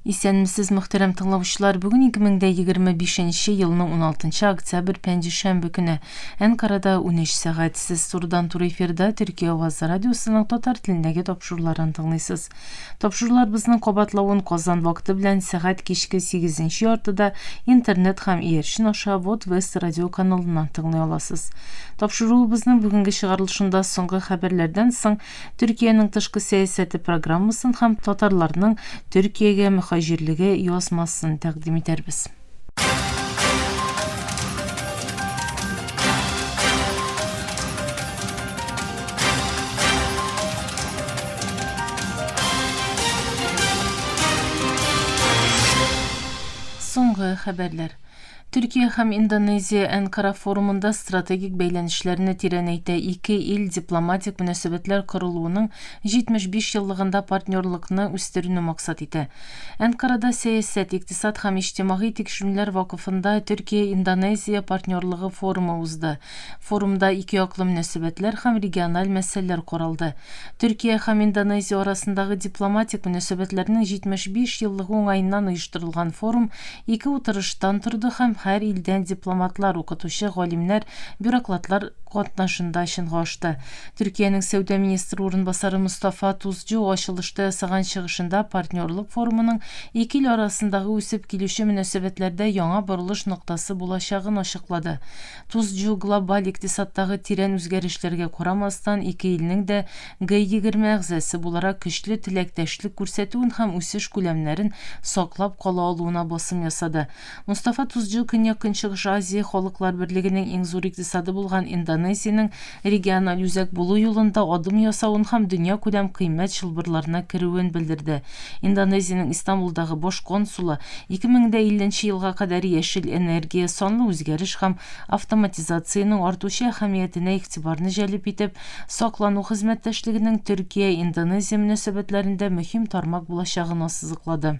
Исәнмесез, мөхтәрәм тыңлаучылар! Бүген 2025 нче елның 16 нчы октябрь пәнҗешәмбе көне. Әнкарада 13 сәгать. Сез турыдан-туры эфирда Төркия Аваз радиосының татар телендәге тапшыруларын тыңлыйсыз. Тапшыруларыбызның кабатлавын Казан вакыты белән сәгать кичке 8 нче яртыда интернет һәм иярчен аша Вотвест радио каналыннан тыңлый аласыз. Тапшыруыбызның бүгенге чыгарылышында соңгы хәбәрләрдән соң Төркиянең тышкы сәясәте программасын һәм татарларның Төркиягә мөхаҗирлеге язмасын тәкъдим итәрбез. Соңгы хәбәрләр. Төркия һәм Индонезия Әнкара форумында стратегик бәйләнешләрне тирәнәйтә, ике ил дипломатик мөнәсәбәтләр корылуының 75 еллыгында партнерлыкны үстерүне максат итә. Әнкарада Сәясәт, икътисад һәм иҗтимагый тикшерүләр вакыфында Төркия-Индонезия партнерлыгы форумы узды. Форумда икеяклы мөнәсәбәтләр һәм региональ мәсьәләләр каралды. Төркия һәм Индонезия арасындагы дипломатик мөнәсәбәтләрнең 75 еллыгы уңаеннан оештырылган форум ике утырыштан торды һәм һәр илдән дипломатлар, укытучы, галимнәр, бюроклатлар катнашында чынга ашты. Төркиянең сәүдә министры урынбасары Мостафа Тузчу ачылышта ясаган чыгышында партнерлык форумының ике ил арасындагы үсеп килүче мөнәсәбәтләрдә яңа борылыш ноктасы булачагын ачыклады. Тузчжу глобаль икътисадтагы тирән үзгәрешләргә карамастан, ике илнең дә Г-20 әгъзасы буларак көчле теләктәшлек күрсәтүен һәм үсеш күләмнәрен саклап кала алуына басым ясады. Мустафа Тузчжу Көньяк-Көнчыгыш Азия Халыклар Берлегенең иң зур икътисады булган Индонезиянең региональ үзәк булу юлында адым ясавын һәм дөньякүләм кыйммәт чылбырларына керүен белдерде. Индонезиянең Истанбулдагы баш консулы, 2050 нче елга кадәр яшел энергия, санлы үзгәреш һәм автоматизациянең артучы әһәмиятенә игътибарны җәлеп итеп, саклану хезмәттәшлегенең Төркия-Индонезия мөнәсәбәтләрендә мөһим тармак булачагын ассызыклады.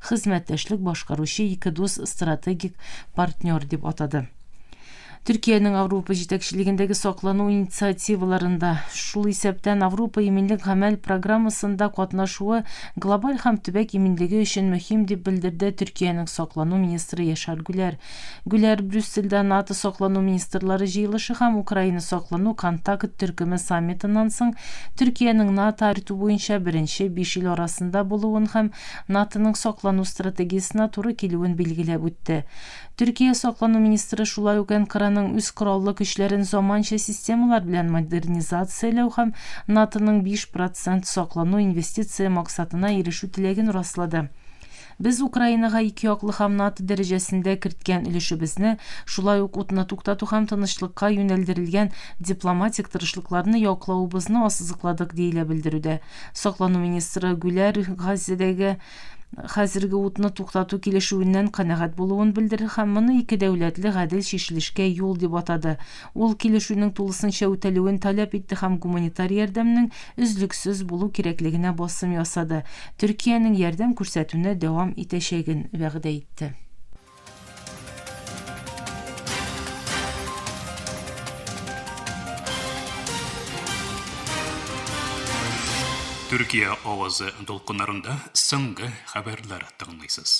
хезмәттәшлек башкаручы ике дус стратегик партнер дип атады. Төркиянең Авропа җитәкчелегендәге саклану инициативаларында, шул исәптән Авропа иминлек гамәл программасында катнашуы глобаль һәм төбәк иминлеге өчен мөһим, дип белдерде Төркиянең саклану министры Яшар Гүләр. Гүләр Брюссельдә НАТО саклану министрлары җыелышы һәм Украина саклану контакт төркеме саммитыннан соң Төркиянең НАТО-АРТУ буенча беренче биш ил арасында булуын һәм НАТОның саклану стратегиясенә туры килүен билгеләп үтте. Төркия саклану министры шулай ук Әнкараның үз кораллы көчләрен заманча системалар белән модернизацияләү һәм НАТОның биш процент саклану инвестиция максатына ирешү теләген раслады. Без Украинага икеяклы һәм НАТО дәрәҗәсендә керткән өлешебезне, шулай ук утны туктату һәм тынычлыкка юнәлдерелгән дипломатик тырышлыкларны яклавыбызны ассызыкладык, диелә белдерүдә. Саклану министры Гүләр Газидәгә хәзерге утны туктату килешүеннән канәгать булуын белдерде һәм моны ике дәүләтле гадел чишелешкә юл дип атады. Ул килешүнең тулысынча үтәлүен таләп итте һәм гуманитар ярдәмнең өзлексез булу кирәклегенә басым ясады, Төркиянең ярдәм күрсәтүне дәвам итәчәген вәгъдә итте. Төркия авазы дулкыннарында соңгы хәбәрләр тыңлыйсыз.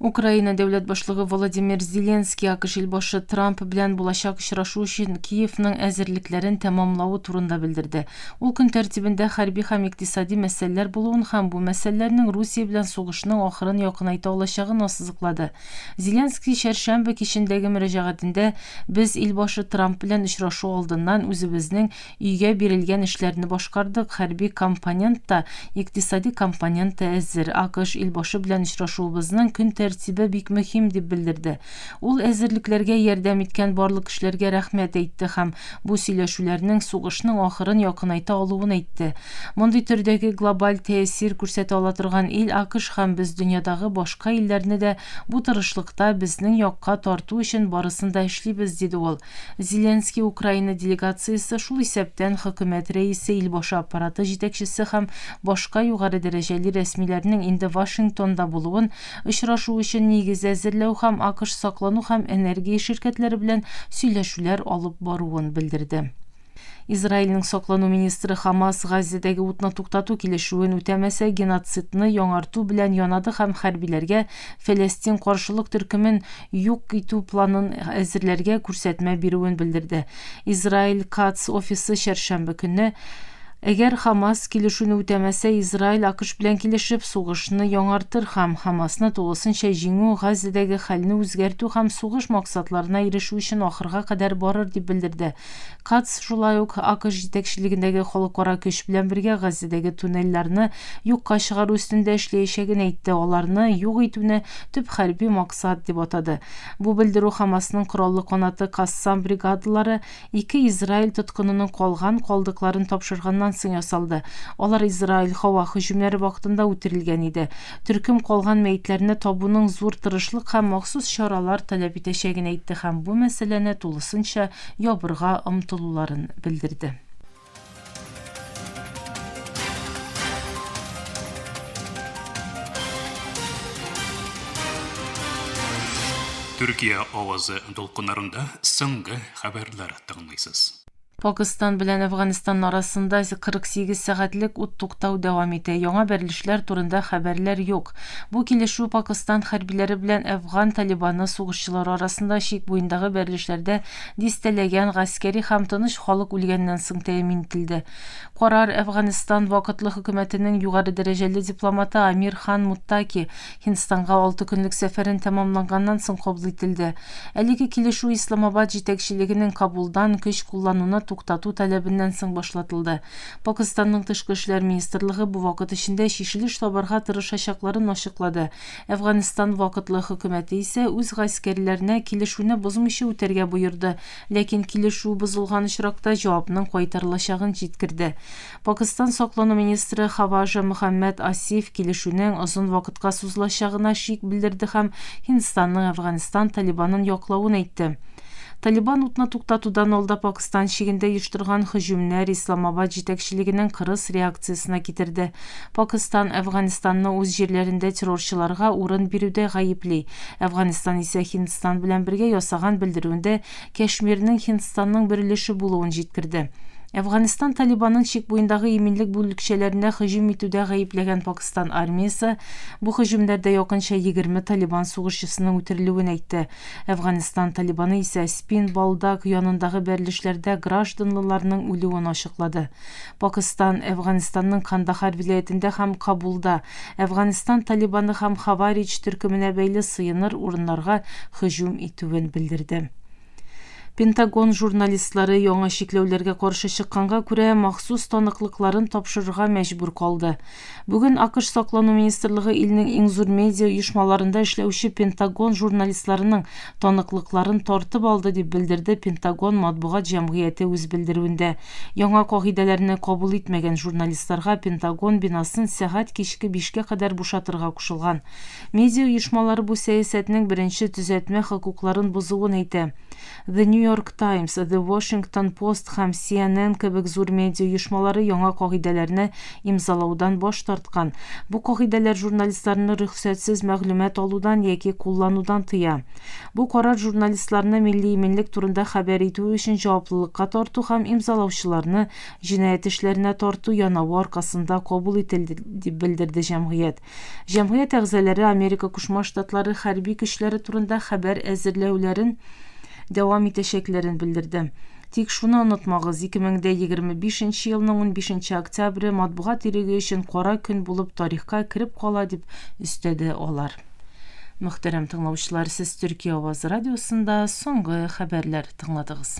Украина дәүләт башлыгы Володимир Зеленский АКШ илбашы Трамп белән булачак очрашу өчен Киевның әзерлекләрен тәмамлавы турында белдерде. Ул көн тәртибендә хәрби һәм икътисади мәсьәләләр булуын һәм бу мәсьәләләрнең Русия белән сугышның ахырын якынайта алачагын ассызыклады. Зеленский чәршәмбе кичендәге мөрәҗәгатендә, Без ил башы Трамп белән очрашу алдыннан үзебезнең өйгә бирелгән эшләрне башкардык, хәрби компонент та, икътисади компонент та әзер. АКШ ил башы белән очрашуыбызның көн тәртибе бик мөһим, дип белдерде. Ул әзерлекләргә ярдәм иткән барлык кешеләргә рәхмәт әйтте һәм бу сөйләшүләрнең сугышның ахырын якынайта алуын әйтте. Мондый төрдәге глобаль тәэсир күрсәтә ала торган ил АКШ һәм без дөньядагы башка илләрне дә бу тырышлыкта безнең якка тарту өчен барысын да эшлибез, диде ул. Зеленский Украина делегациясе, шул исәптән Хөкүмәт Рәисе, Илбашы Аппараты җитәкчесе һәм башка югары дәрәҗәле рәсмиләрнең инде Вашингтонда булуын, Очрашу өчен нигез әзерләү һәм АКШ саклану һәм энергия ширкәтләре белән сөйләшүләр алып баруын белдерде. Израильнең саклану министры Хамас Газзәдәге утны туктату килешүен үтәмәсә, геноцидны яңарту белән янады һәм хәрбиләргә Фәләстин каршылык төркемен юк итү планын әзерләргә күрсәтмә бирүен белдерде. Израиль Катц офисы чәршәмбе көнне Әгәр Хамас килешүне үтәмәсә, Израиль АКШ белән килешеп, сугышны яңартыр һәм Хамасны тулысынча җиңү, Газәдәге хәлне үзгәртү һәм сугыш максатларына ирешү өчен ахырга кадәр барыр, дип белдерде Катц, шулай ук АКШ җитәкчелегендәге халыкара көч белән бергә Газәдәге туннельләрне юкка чыгару өстендә эшләячәген әйтте, аларны юк итүне төп хәрби максат дип атады. Бу белдерү Хамасның кораллы канаты Кассам бригадалары, Ике Израиль тоткынының калган калдыкларын тапшырганнан соң ясалды. Алар Израиль һава һөҗүмнәре вакытында үтерелгән иде. Төркем калган мәетләрне табуның зур тырышлык һәм махсус чаралар таләп итәчәген әйтте һәм бу мәсьәләне тулысынча ябырга омтылуларын белдерде. Төркия авазы дулкыннарында соңгы хәбәрләр тыңлыйсыз. Пакистан белән Әфганстан арасында 48 сәгатьлек ут туктау дәвам итә. Яңа бәрелешләр турында хәбәрләр юк. Бу килешү Пакистан хәрбиләре белән әфган Талибаны сугышчылары арасында чик буендагы бәрелешләрдә Дистәләгән гаскәри һәм тыныч халык үлгәннән соң тәэмин ителде. Карар Әфганстан вакытлы хөкүмәтенең югары дәрәҗәле дипломаты Амир Хан Муттаки Һиндстанга алты көнлек сәфәрен тәмамланганнан соң кабул ителде. Әлеге килешү Исламабад җитәкчелегенең Кабулдан көч куллануны туктату таләбеннән соң башлатылды. Пакыстанның тышкы эшләр министрлыгы бу вакыт эчендә чишелеш табарга тырышачакларын ачыклады Әфганстан вакытлы хөкүмәте исә үз гаскәрләренә килешүне бозмыйча үтәргә боерды, ләкин килешү бозылган очракта җавапның кайтарылачагын җиткерде. Пакстан саклану министры Хаважа Мөхәммәд Асиф килешүнең озын вакытка сузылачагына шик белдерде һәм Һиндстанның Әфганстан Талибанын яклавын әйтте. Талибан утны туктатудан алда Пакстан чигендә оештырган һөҗүмнәр Исламабад җитәкчелегенең кырыс реакциясенә китерде. Пакстан Әфганстанны үз җирләрендә террорчыларга урын бирүдә гаепли. Әфганстан исә Һиндстан белән бергә ясаган белдерүендә Кәшмирнең Һиндстанның бер өлеше булуын җиткерде. Әфганстан Талибанын чик буендагы иминлек бүлекчәләренә һөҗүм итүдә гаепләгән Пакстан армиясе бу һөҗүмнәрдә якынча егерме Талибан сугышчысының үтерелүен әйтте. Әфганстан Талибаны исә Спин Болдаг янындагы бәрелешләрдә гражданлыларның үлүен ачыклады. Пакыстан, Әфганстанның Кандахар вилаятендә һәм Кабулда, Әфганстан Талибаны һәм Хаваридж төркеменә бәйле сыеныр урыннарга һөҗүм итүен белдерде. Пентагон журналистлары, яңа чикләүләргә каршы чыкканга күрә, махсус таныклыкларын тапшырырга мәҗбүр калды. Бүген АКШ Саклану министрлыгы илнең иң зур медиа оешмаларында эшләүче Пентагон журналистларының таныклыкларын тартып алды, дип белдерде Пентагон матбугат җәмгыяте үз белдерүендә. Яңа кагыйдәләрне кабул итмәгән журналистларга Пентагон бинасын сәгать кичке бишкә кадәр бушатырга кушылган. Медиа оешмалары бу сәясәтнең беренче төзәтмә хокукларын бозуын әйтә. The New York Times, The Washington Post һәм CNN кебек зур медиа оешмалары яңа кагыйдәләрне имзалаудан баш тарткан. Бу кагыйдәләр журналистларны рөхсәтсез мәгълүмат алудан яки кулланудан тыя. Бу карар журналистларны милли иминлек турында хәбәр итүе өчен җаваплылыкка тарту һәм имзалаучыларны җинаять эшләренә тарту янавы аркасында кабул ителде, дип белдерде җәмгыять. Җәмгыять әгъзалары Америка Кушма Штатлары хәрби көчләре турында хәбәр әзерләүләрен дәвам итәчәкләрен белдерде. Тик шуны онытмагыз, 2025 нче елның унбишенче октябре матбугат иреге өчен кара көн булып тарихка кереп кала, дип өстәде алар. Мөхтәрәм тыңлаучылар, сез Төркия авазы радиосында соңгы хәбәрләр тыңладыгыз.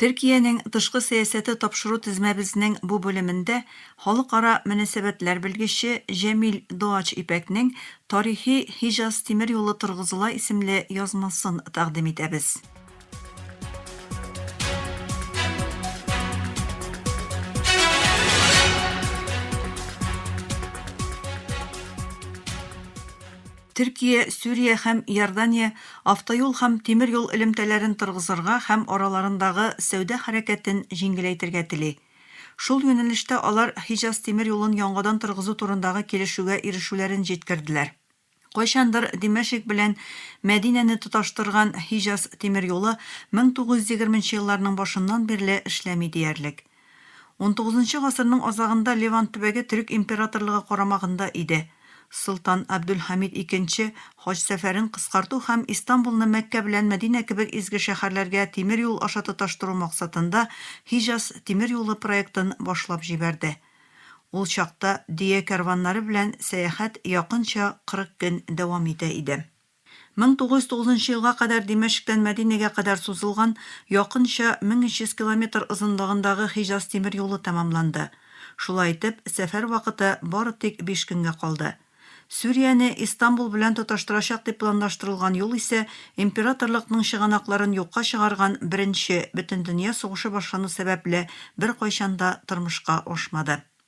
Төркиянең тышкы сәясәте тапшыру тезмәбезнең бу бүлемендә халыкара мөнәсәбәтләр белгече Җәмил Доач Ипәкнең Тарихи Һиҗаз тимер юлы торгызыла исемле язмасын тәкъдим итәбез. Төркия, Сүрия һәм Иордания автоюл һәм тимер юл элемтәләрен торгызырга һәм араларындагы сәүдә хәрәкәтен җиңеләйтергә тели. Шул юнәлештә алар Һиҗаз тимер юлын яңадан торгызу турындагы килешүгә ирешүләрен җиткерделәр. Кайчандыр Димәшик белән Мәдинәне тоташтырган Һиҗаз тимер юлы 1920 нчы елларның башыннан бирле эшләми диярлек. Унтугызынчы гасырның азагында Левант төбәге төрек императорлыгы карамагында иде. Солтан Абдөлхамид икенче хаҗ сәфәрен кыскарту һәм Истанбулны Мәккә белән Мәдинә кебек изге шәһәрләргә тимер юл аша тоташтыру максатында Һиҗаз тимер юлы проектын башлап җибәрде. Ул чакта дөя кәрваннары белән сәяхәт якынча 40 көн дәвам итә иде. Мең тугыз йөз тугызынчы елга кадәр Димәшектән Мәдинәгә кадәр сузылган якынча 1300 километр озынлыгындагы Хиҗаз тимер юлы тәмамланды. Шулай итеп, сәфәр вакыты бары тик биш көнгә калды. Сүрияне Истанбул белән тоташтырачак дип планлаштырылган юл исә императорлыкның чыганакларын юкка чыгарган Беренче Бөтендөнья сугышы башлану сәбәпле беркайчан да тормышка ашмады.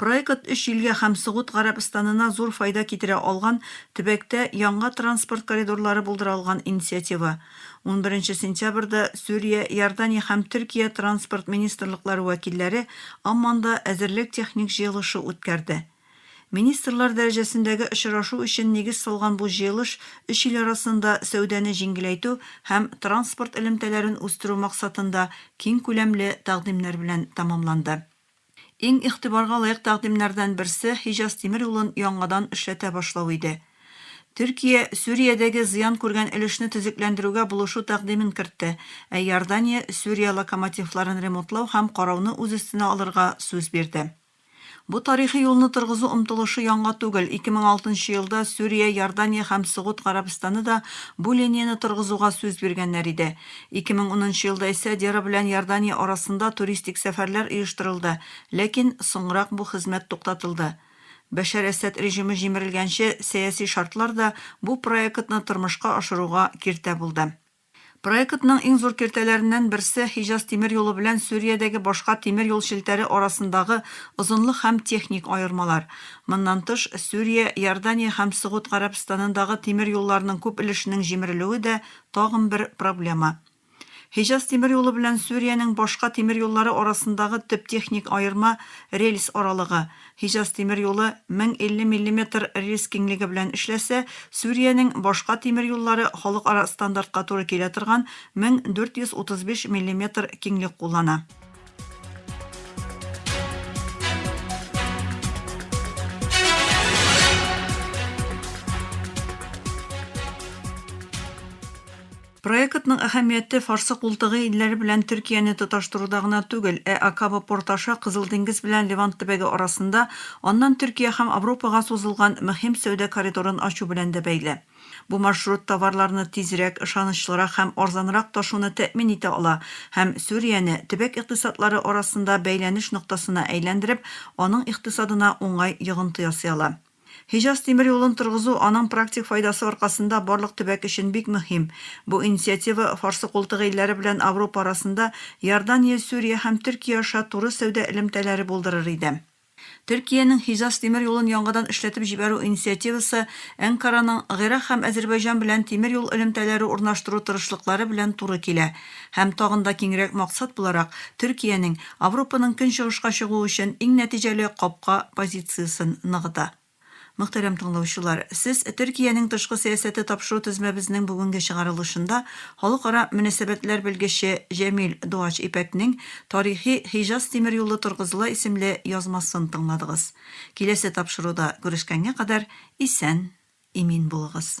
Проект өч илгә һәм Согуд Гарәбстанына зур файда китерә алган төбәктә яңа транспорт коридорлары булдыра алган инициатива. Унберенче сентябрьдә Сүрия, Иордания һәм Төркия транспорт министрлыклары вәкилләре Амманда әзерлек-техник җыелышы үткәрде. Министрлар дәрәҗәсендәге очрашу өчен нигез салган бу җыелыш өч ил арасында сәүдәне җиңеләйтү һәм транспорт элемтәләрен үстерү максатында киңкүләмле тәкъдимнәр белән тәмамланды. Иң игътибарга лаек тәкъдимнәрдән берсе Хиҗаз тимер юлын яңадан эшләтә башлау иде. Төркия Сүриядәге зыян күргән өлешне төзекләндерүгә булышу тәкъдимен кертте, ә Иордания Сүрия локомотивларын ремонтлау һәм карауны үз өстенә алырга сүз бирде. Бу тарихи юлны торгызу омтылышы яңа түгел, 2006 нчы елда Сүрия, Иордания һәм Согуд Гарәбстаны да бу линияне торгызуга сүз биргәннәр иде. Ике мең унынчы елда исә Дера белән Иордания арасында туристик сәфәрләр оештырылды, ләкин соңрак бу хезмәт туктатылды. Бәшәр Әсәд режимы җимерелгәнче сәяси шартлар да бу проектны тормышка ашыруга киртә булды. Проектның иң зур киртәләреннән берсе Хиҗаз тимер юлы белән Сүриядәге башка тимер юл челтәре арасындагы озынлык һәм техник аермалар. Моннан тыш, Сүрия, Иордания һәм Согуд Гарәбстанындагы тимер юлларның күп өлешенең җимерелүе дә Тагын бер проблема. Һиҗаз тимер юлы белән Сүриянең башка тимер юллары арасындагы төп техник аерма, рельс аралыгы. Һиҗаз тимер юлы 1050 миллиметр рельс киңлеге белән эшләсә, Сүриянең башка тимер юллары халыкара стандартка туры килә торган 1435 миллиметр киңлек куллана. Проектның әһәмияте Фарсы култыгы илләре белән Төркияне тоташтыруда гына түгел, ә Акаба порты аша Кызыл диңгез белән Левант төбәге арасында, аннан Төркия һәм Авропага сузылган мөһим сәүдә коридорын ачу белән дә бәйле. Бу маршрут товарларны тизрәк, ышанычлырак һәм арзанрак ташуны тәэмин итә ала һәм Сүрияне, төбәк икътисадлары арасында бәйләнеш ноктасына әйләндереп, аның икътисадына уңай йогынты ясый ала. Һиҗаз тимер юлын торгызу, аның практик файдасы аркасында, барлык төбәк өчен бик мөһим. Бу инициатива Фарсы култыгы илләре белән Авропа арасында Иордания, Сүрия һәм Төркия аша туры сәүдә элемтәләре булдырыр иде. Төркиянең Хизас тимер юлын яңадан эшләтеп җибәрү инициативасы Әнкараның Гыйрак һәм Әзербайҗан белән тимер юл элемтәләре урнаштыру тырышлыклары белән туры килә һәм тагын да киңрәк максат буларак Төркиянең Авропаның көнчыгышка чыгу өчен иң нәтиҗәле капка позициясен ныгыта. Мөхтәрәм тыңлаучылар, сез Төркиянең тышкы сәясәте тапшыру тезмәбезнең бүгенге чыгарылышында халыкара мөнәсәбәтләр белгече Җәмил Дуач Ипәкнең Тарихи Хиҗаз тимер юлы торгызыла исемле язмасын тыңладыгыз. Киләсе тапшыруда күрешкәнгә кадәр исән, имин булыгыз.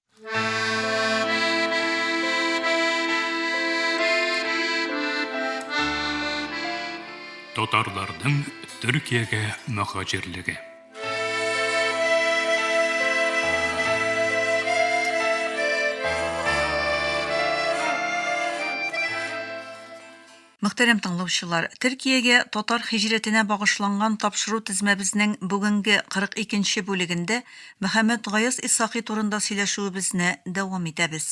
Татарларның Төркиягә мөхаҗирлеге. Мөхтәрәм тыңлаучылар, Төркиягә татар һиҗрәтенә багышланган тапшыру тезмәбезнең бүгенге 42 нче бүлегендә Мөхәммәтгаяз Исхакый турында сөйләшүебезне дәвам итәбез.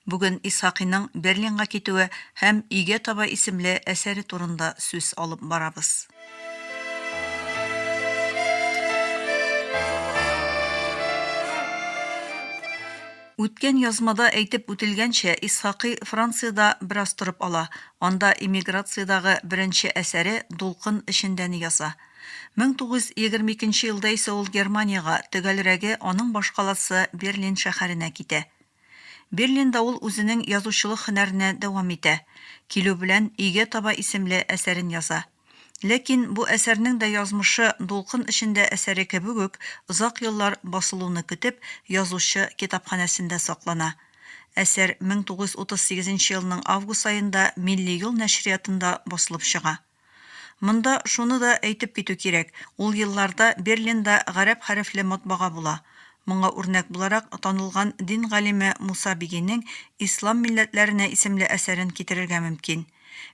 Бүген Исхакыйның Берлинга китүе һәм Өйгә таба исемле әсәре турында сүз алып барабыз. Үткән язмада әйтеп үтелгәнчә, Исхакый Франциядә бераз торып ала, анда эмиграциядәге беренче әсәре Дулкын эчендәне яза. 1922 елда исә ул Германиягә, төгәлрәге, аның башкаласы Берлин шәһәренә китә. Берлинда ул үзенең язучылык һөнәренә дәвам итә. Килү белән, Өйгә таба исемле әсәрен яза. Ләкин бу әсәрнең дә язмышы дулкын эчендә әсәре кебек үк озак еллар басылуны көтеп, язучы китапханәсендә саклана. Әсәр 1938 нче елның август аенда Милли юл нәшриятында басылып чыга. Монда шуны да әйтеп китү кирәк, ул елларда Берлинда гарәп хәрефле матбага була. Моңа үрнәк буларак танылган дин галиме Муса Бигинең Ислам милләтләренә исемле әсәрен китерергә мөмкин.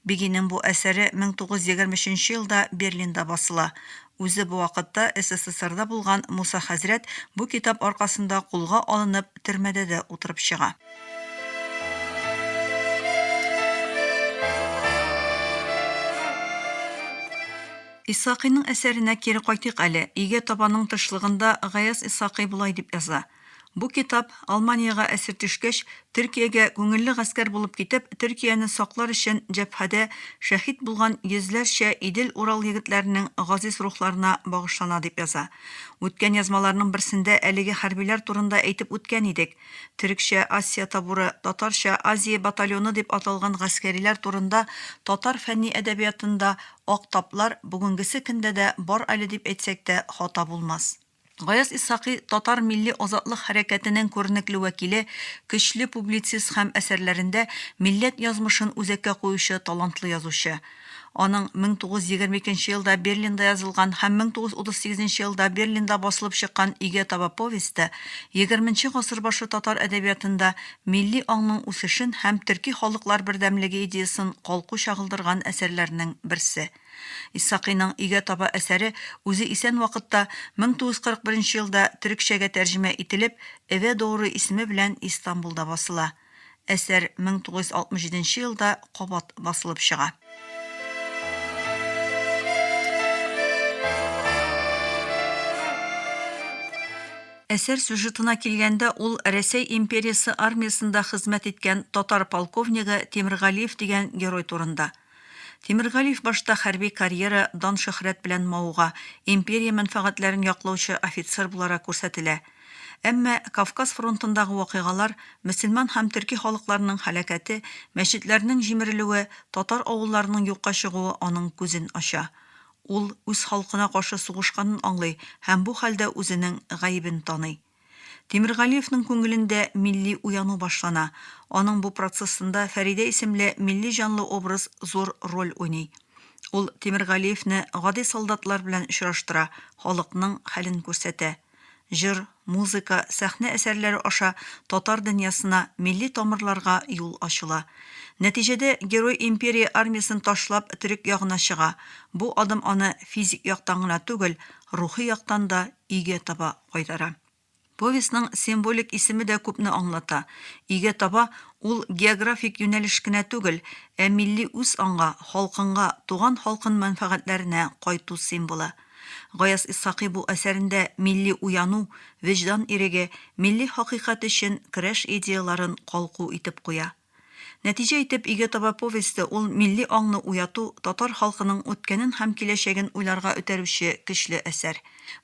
Бигинең бу әсәре 1923 елда Берлинда басыла. Үзе бу вакытта СССРда булган Муса хәзрәт бу китап аркасында кулга алынып, төрмәдә дә утырып чыга. Исхакыйның әсәренә кире кайтыйк әле. Өйгә табаның тышлыгында Гаяз Исхакый болай дип яза. Бу китап, Алманиягә әсир төшкәч, Төркиягә күңелле гаскәр булып китеп, Төркияне саклар өчен җәбһәдә шәһит булган йөзләрчә Идел-Урал егетләренең газиз рухларына багышлана, дип яза. Үткән язмаларның берсендә әлеге хәрбиләр турында әйтеп үткән идек. Төрекчә, Асия табуры, татарча, Азия батальоны дип аталган гаскәриләр турында татар фәнни әдәбиятында ак таплар бүгенгесе көндә дә бар әле дип әйтсәк тә хата булмас. Гаяз Исхакый, татар милли азатлык хәрәкәтенең күренекле вәкиле, көчле публицист һәм әсәрләрендә милләт язмышын үзәккә куючы талантлы язучы. Аның 1922 елда Берлинда язылган һәм 1938 елда Берлинда басылып чыккан Өйгә таба повесте егерменче гасыр башы татар әдәбиятында милли аңның үсешен һәм төрки халыклар бердәмлеге идеясын калку чагылдырган әсәрләрнең берсе. Исхакыйның Өйгә таба әсәре үзе исән вакытта, 1941 елда төрекчәгә тәрҗемә ителеп, Эве доуру исеме белән Истанбулда басыла. Әсәр 1967 елда кабат басылып чыга. Әсәр сюжетына килгәндә, ул Рәсәй империясе армиясендә хезмәт иткән татар полковнигы Тимергалиев дигән герой турында. Тимергалиев башта хәрби карьера, дан-шөһрәт белән мавыга, империя мәнфәгатьләрен яклаучы офицер буларак күрсәтелә. Әмма Кавказ фронтындагы вакыйгалар, мөселман һәм төрки халыкларның һәлакәте, мәчетләрнең җимерелүе, татар авылларының юкка чыгуы аның күзен ача. Ул үз халкына каршы сугышканын аңлый һәм бу хәлдә үзенең гаебен таный. Тимергалиевның күңелендә милли уяну башлана. Аның бу процессында Фәридә исемле милли җанлы образ зур роль уйный. Ул Тимергалиевне гади солдатлар белән очраштыра, халыкның хәлен күрсәтә. Җыр, музыка, сәхнә әсәрләре аша татар дөньясына, милли тамырларга юл ачыла. Нәтиҗәдә герой империя армиясен ташлап төрек ягына чыга. Бу адым аны физик яктан гына түгел, рухи яктан да өйгә таба кайтара. Повестьның символик исеме дә күпне аңлата. Өйгә таба ул географик юнәлеш кенә түгел, ә милли үз анга, халкыңга, туган халкын мәнфәгатьләренә кайту символы. Гаяз Исхакый бу әсәрендә милли уяну, вөҗдан иреге, милли хакыйкать өчен көрәш идеяларын калку итеп куя. Нәтиҗә итеп, Өйгә таба повесте ул милли аңны уяту, татар халкының үткәнен һәм киләчәген уйларга өтәрүче көчле әсәр.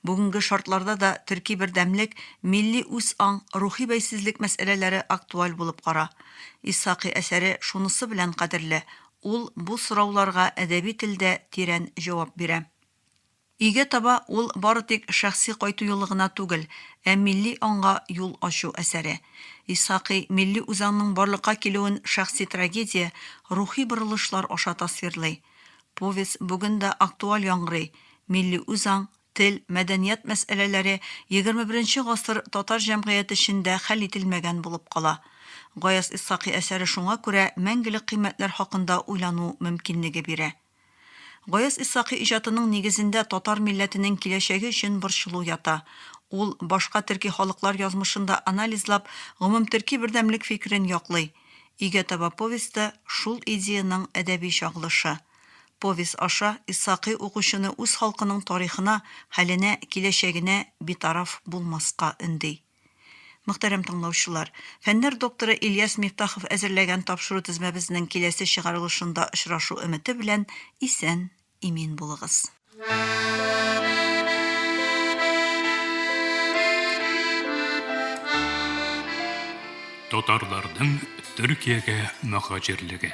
Бүгенге шартларда да төрки бердәмлек, милли үз аң, рухи бәйсезлек мәсьәләләре актуаль булып кара. Исхакый әсәре шунысы белән кадерле, ул бу сорауларга әдәби телдә тирән җавап бирә. Өйгә таба ул бары тик шәхси кайту юлы гына түгел, ә милли аңга юл ачу әсәре. Исхакый милли үзаңның барлыкка килүен шәхси трагедия, рухи борылышлар аша тасвирлый. Повесть бүген дә актуаль яңгырый, милли үзаң, тел, мәдәният мәсьәләләре егерме беренче гасыр татар җәмгыяте эчендә хәл ителмәгән булып кала. Гаяз Исхакый әсәре шуңа күрә мәңгелек кыйммәтләр хакында уйлану мөмкинлеге бирә. Гаяз Исхакый иҗатының нигезендә татар милләтенең киләчәге өчен борчылу ята. Ул, башка төрки халыклар язмышын да анализлап, гомумтөрки бердәмлек фикерен яклый. Өйгә таба повесте, шул идеянең әдәби чагылышы. Повесть аша Исхакый укучыны үз халкының тарихына, хәленә, киләчәгенә битараф булмаска өнди. Мөхтәрәм тыңлаучылар, фәннәр докторы Ильяс Мифтахов әзерләгән тапшыру тезмәбезнең киләсе чыгарылышында очрашу өмете белән исән, имин булыгыз. Татарларның Төркиягә мөхаҗирлеге.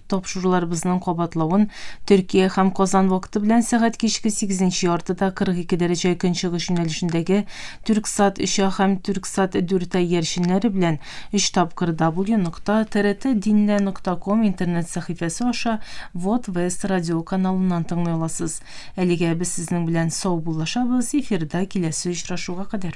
Тапшыруларыбызның кабатлавын Төркия һәм Казан вакыты белән сәгать кичке сигезенче яртыда 42 дәрәҗә көнчыгыш юнәлешендәге Түрксат 3А һәм Түрксат 4А иярченнәре белән өч тапкыр www.trtdinle.com интернет сәхифәсе аша Вот Вест радиоканалыннан тыңлый аласыз. Әлегә без сезнең белән саубуллашабыз, эфирда киләсе очрашуга кадәр.